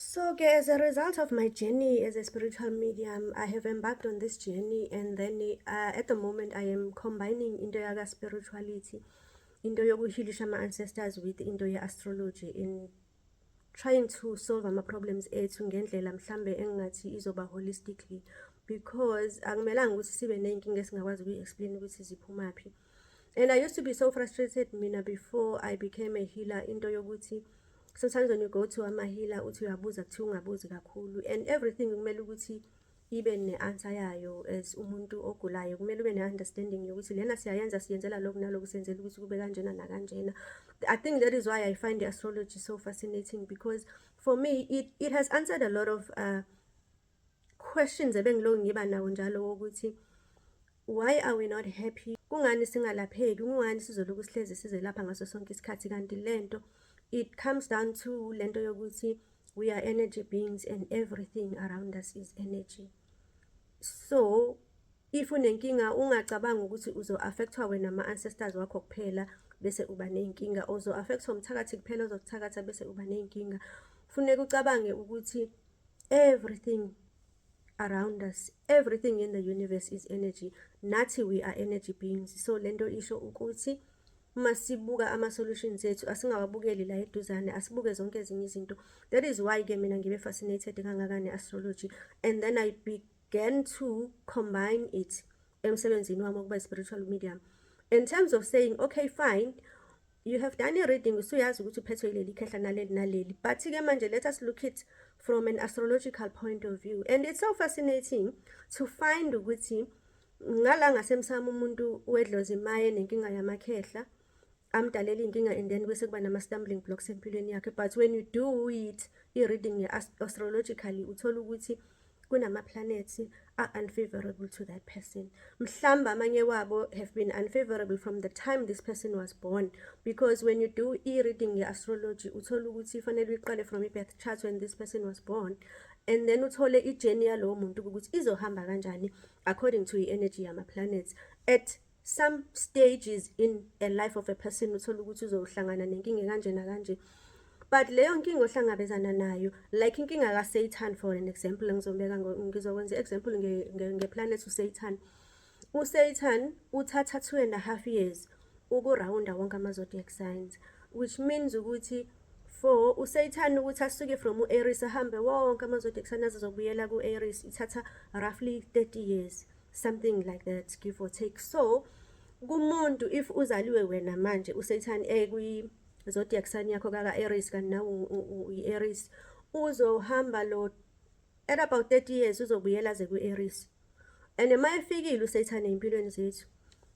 So ke as a result of my journey as a spiritual medium, I have embarked on this journey and then uh, at the moment I am combining into yaka spirituality, into yokuhilisha ama ancestors with into ye astrology in trying to solve ama problems ethu ngendlela mhlambe engathi izoba holistically because akumelanga ukuthi sibe nezinkinga esingakwazi ukuyi explain ukuthi ziphumaphi. and i used to be so frustrated mina before i became a healer into yokuthi sometimes when you go to amahila uthi uyabuza kuthiwa ungabuzi kakhulu and everything kumele ukuthi ibe ne-answer yayo as umuntu ogulayo kumele ube ne-understanding yokuthi lena siyayenza siyenzela lokhu naloku senzela ukuthi kube kanjena nakanjena i think that is why i find the astrology so fascinating because for me it, it has answered a lot of uh, questions ebengilokhu ngiba nawo njalo wokuthi why are we not happy kungani singalapheki kungani sizolokhu sihlezi sizelapha ngaso sonke isikhathi kanti lento it comes down to lento yokuthi we are energy beings and everything around us is energy so if unenkinga ungacabanga ukuthi uzo-affectwa wena ama-ancestors wakho kuphela bese uba ney'nkinga ozo-affectwa umthakathi kuphela ozokuthakatha bese uba ney'nkinga funeka ucabange ukuthi everything around us everything in the universe is energy nathi we are energy beings so lento isho ukuthi uma sibuka ama-solutions ethu asingawabukeli la eduzane asibuke zonke ezinye izinto that is why-ke mina ngibe fascinated kangaka ne-astrology and then i began to combine it emsebenzini wami wokuba i-spiritual medium in terms of saying okay fine you have done a reading usuyazi ukuthi uphethwe ileli khehla naleli naleli but ke manje let us look it from an astrological point of view and it's so fascinating to find ukuthi ngala ngasemsamo umuntu wedlozi maye nenkinga yamakhehla amdalela inkinga and then bese kuba nama stumbling blocks empilweni yakhe but when you do it i reading astrologically uthola ukuthi kunamaplanethi a-unfavorable to that person mhlawumbe amanye wabo have been unfavorable from the time this person was born because when you do i-reading ye-astrology uthole ukuthi fanele uyiqale from i-birth chart when this person was born and then uthole i-journey yalowo muntu ukuthi izohamba kanjani according to i-energy yama-planets at some stages in a life of a person uthole ukuthi uzohlangana nenkinga kanje nakanje but leyo nkinga ohlangabezana nayo like inkinga kaSatan for an example ngizobeka ngizokwenza example ngeplanet nge, nge uSatan uSatan uthatha 2 and a half years ukurawunda wonke ama zodiac signs which means ukuthi for uSatan ukuthi asuke from uAries ahambe wonke ama zodiac signs azobuyela kuAries ithatha roughly 30 years something like that give or take so kumuntu if uzaliwe wena manje uSatan ekwi zodiac sign yakho kaka Aries kanti nawe uyi-Aries uzohamba lo at about 30 years uzobuyela ze kwi-Aries and uma efikile uSatan empilweni zethu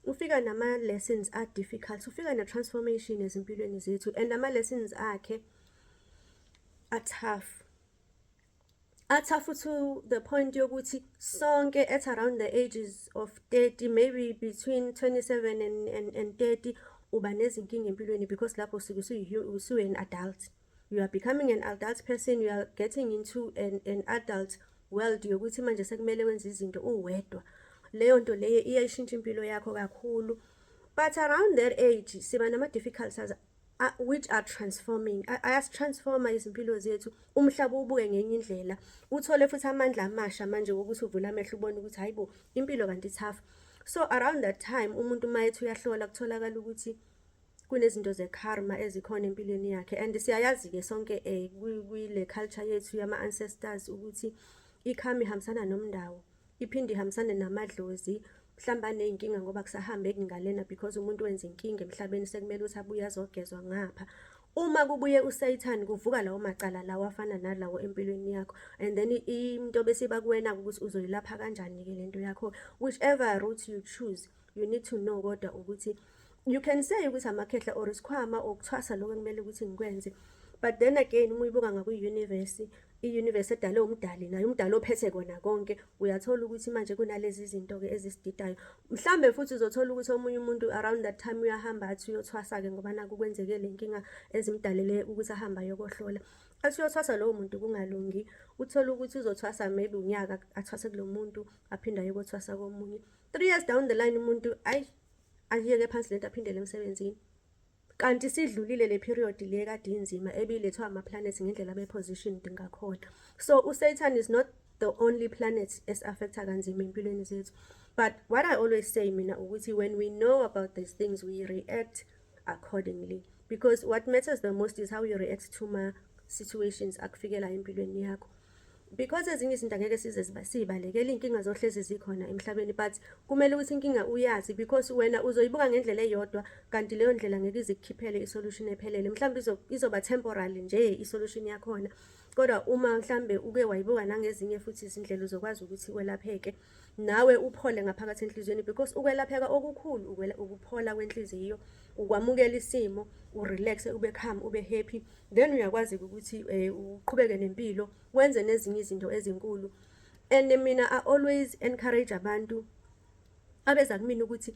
ufika nama lessons are difficult ufika ne transformation ezimpilweni zethu and ama lessons akhe are tough atha futhi to the point yokuthi sonke at around the ages of 30 maybe between 27 and, and, and 30 uba nezinkinga empilweni because lapho usuke usuwe an adult you are becoming an adult person you are getting into an, an adult world yokuthi manje sekumele wenze izinto uwedwa leyo nto leyo iyayishintsha impilo yakho kakhulu but around that age siba nama-difficulties which are transforming ayastransforma izimpilo zethu umhlaba ubuke ngenye indlela uthole futhi amandla amasha manje wokuthi uvule amehlo ubone ukuthi hayi bo impilo kanti ithafa so around that time umuntu uma ethi uyahlola kutholakala ukuthi kunezinto ze-karma ezikhona empilweni yakhe and siyayazi-ke sonke um kwile culture yethu yama-ancestors ukuthi i-karma ihambisana nomndawo iphinde ihambisane namadlozi mhlawumbe aney'nkinga ngoba kusahambeki ngalena because umuntu wenza inkinga emhlabeni sekumele ukuthi abuye azogezwa ngapha uma kubuye usayithani kuvuka lawo macala lawo afana nalawo empilweni yakho and then into besiba kuwena ukuthi uzoyilapha kanjani-ke le nto yakho whichever route you choose you need to know kodwa ukuthi you can say ukuthi amakhehla or isikhwama or kuthwasa lokho ekumele ukuthi ngikwenze but then again uma uyibuka ngakwi-university i-universe edale umdali naye umdali ophethe kona konke uyathola ukuthi manje kunalezi zinto-ke ezisididayo mhlawumbe futhi uzothola ukuthi omunye umuntu around that time uyahamba athi uyothwasa-ke ngoba naku kwenzeke le nkinga ezimdalele ukuthi ahambe ayokohlola athi uyothwasa lowo muntu kungalungi uthole ukuthi uzothwasa maybe unyaka athwase kulo muntu aphinde ayokothwasa komunye three years down the line umuntu ayi ayiyeke phansi lento aphindele emsebenzini kanti sidlulile le period le kade inzima ebilethwa ama-planets ngendlela be-positioned ngakhona so usatan is not the only planet esi-affecta kanzima empilweni zethu but what i always say mina ukuthi when we know about these things we react accordingly because what matters the most is how you react to ma-situations akufikela empilweni yakho because ezinye izinto angeke size siyibalekele iy'nkinga zohlezi zikhona emhlabeni but kumele ukuthi inkinga uyazi because wena uzoyibuka ngendlela eyodwa kanti leyo ndlela ngeke izikukhiphele isolution ephelele mhlawumbe izoba temporary nje isolution yakhona kodwa uma mhlawumbe uke wayibuka nangezinye futhi izindlela uzokwazi ukuthi welapheke nawe uphole ngaphakathi enhliziyweni because ukwelapheka okukhulu ukuphola kwenhliziyo ukwamukela isimo urelax ube calm ube happy then uyakwazi ukuthi eh, uqhubeke nempilo wenze nezinye izinto ezinkulu and mina i always encourage abantu abeza kumina ukuthi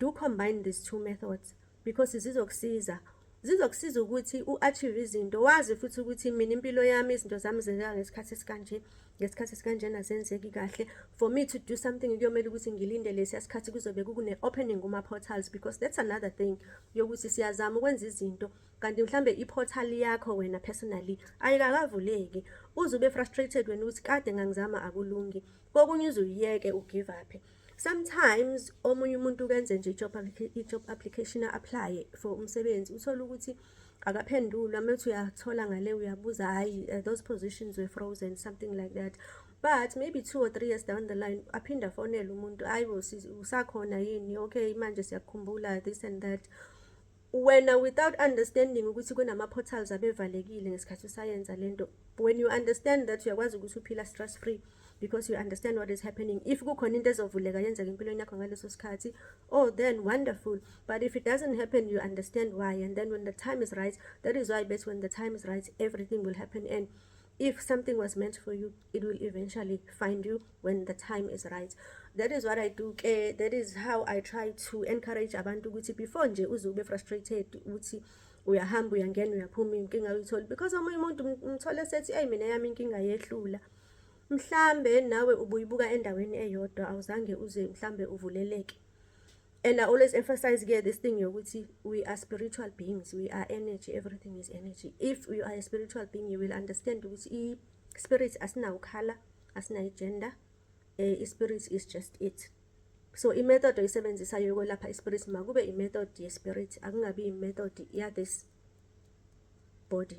do combine these two methods because zizokusiza zizokusiza ukuthi u-achieve izinto wazi futhi ukuthi mina impilo yami izinto zami zenzeka ngesikhathi esikanje ngesikhathi esikanjena zenzeki kahle for me to do something kuyomele ukuthi ngilinde lesiya sikhathi kuzobe kukune-opening kuma-portals because that's another thing yokuthi siyazama ukwenza izinto kanti mhlambe i-portal yakho wena personally ayikakavuleki uze ube frustrated wena ukuthi kade ngangizama akulungi kokunye uze uyiyeke ugive uphe sometimes omunye umuntu ukenze nje i-job i-job application apply for umsebenzi uthole ukuthi akaphenduli uma uthi uyathola ngale uyabuza hayi uh, those positions were frozen something like that but maybe two or three years down the line aphinde afonele umuntu hayi usakhona yini okay manje siyakukhumbula this and that Wena without understanding ukuthi kunama portals abevalekile ngesikhathi usayenza lento. When you understand that uyakwazi ukuthi uphila stress free because you understand what is happening. If kukhona into ezovuleka yenzeka empilweni yakho ngaleso sikhathi, oh then wonderful. But if it doesn't happen you understand why and then when the time is right, that is why best when the time is right everything will happen and if something was meant for you it will eventually find you when the time is right that is what i do ke that is how i try to encourage abantu ukuthi before nje uze ube frustrated ukuthi uyahamba uyangena uyaphuma inkinga uyithola because omunye umuntu umthole sethi eyi mina yami inkinga yehlula mhlambe nawe ubuyibuka endaweni eyodwa awuzange uze mhlambe uvuleleke and I always emphasize ke this thing yokuthi we are spiritual beings we are energy everything is energy if you are a spiritual being you will understand ukuthi i spirit asinawukhala asinayi gender eh i spirit is just it so i method oyisebenzisayo yokwelapha i spirit makube i method ye spirit akungabi i method ya this body